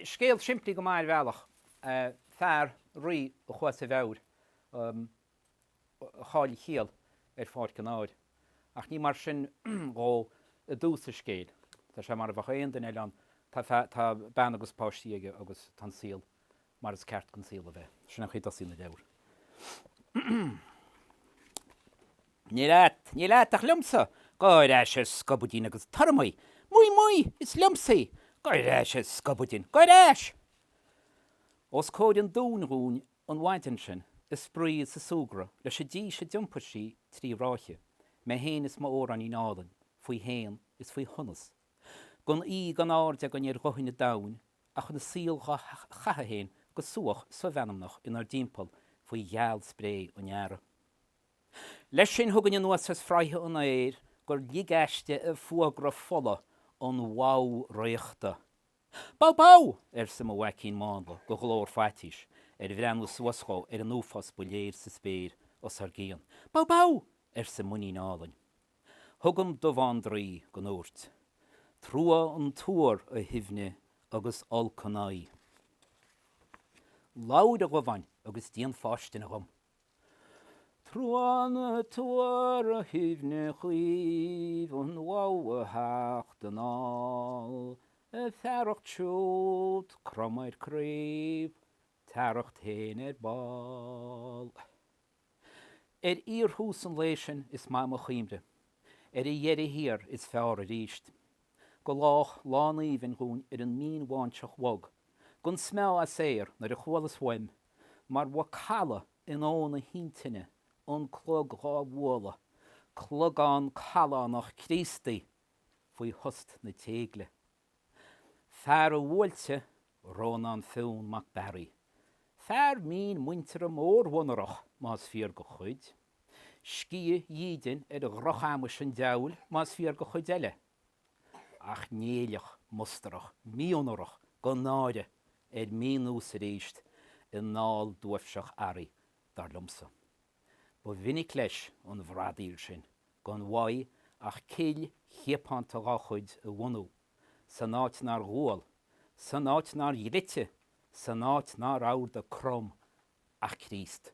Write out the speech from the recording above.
Scéal simplí go maith ar bhealach, fear, rí, a chuaigh as a mheabhair, a chaill a chiall ar pháirc an áir. Ach ní mar sin dhó i dtús an scéil. Tá sé mar a bheadh aon duine eile ann, tá bean agus páistí aige agus tá an saol mar is ceart don saol a bheith. Sin an chaoi a dtosaíonn an leabhar. Ní leat, ní leat ach liomsa, gabh ar ais a scubaidín agus tabhair dhom í, muigh, muigh, is liomsa í, gabh ar ais a scubaidín, gabh ar ais! Os comhair an dúin dhúinn an mhaidin sin, ag spraoi is ag súgradh, leis an dís a d'iompair sí trí ráithe, mé féin is m'Eorainnín álainn, faoi shéan is faoi shonas gan uídh gan aird againn ar dhuthaine an domhain ach an saol dhá chaitheamh féin go súach somheanmnach inár dtimpeall faoi ghealspré an earraigh. Leis sin chugainn anuas as fraighe an aeir gur lig aisti a fuagra fola an bhadhbh fhraochta. Badhbh! Badhbh! arsa mo mhaicín mánla de ghlór faitís ar bhreathnú suas dhó ar an uafás ba léir sa spéir os ár gcionn. Badhbh! Badhbh! arsa m'inín álainn. Chugam Dubhán draoi go ndúirt, Trua an tuar, a Shuibhne, agus olc an aghaidh. Labhair a Dhubháin agus déan fáistine dhom. Trua an tuar, a Shuibhne chaoimh, an bhadhbh a theacht anall, a fearacht siúd, crom ar craobh, t'fhearacht féin ar ball. Ar fhíorthús an lae sin is maith mo chuimhne, ar a dheireadh thiar is feárr arís. Go lách lán aoibhinn dhúinn ar an mínbháinseach bhog, gan smeámh as aer, nuair a chualas uaim, mar mhacalla in uamhain na hintinne, an clog dhá bhualadh, clogán callánach Críostaí faoi thost na téigle. Fear a bhuailte, Rónán Fionn mac Bearaigh. Fear mín muinteartha mórmhonarach, más fíor do chuid. Sciath dídine ar dhroch-amais an diabhail, más fíor do chuid eile. Ach Néilleach mustarach, mí-onórach gan náire, ar mí-nós arís i nDáil duaibhseach Araí, dar liomsa. Ba mhinic leis an bhradaíl sin gan mhaith ach cill chiapánta dhá chuid a bhunú, san áit nár dhual, san áit nár dhlite, san áit nár adhartha Crom ach Críost.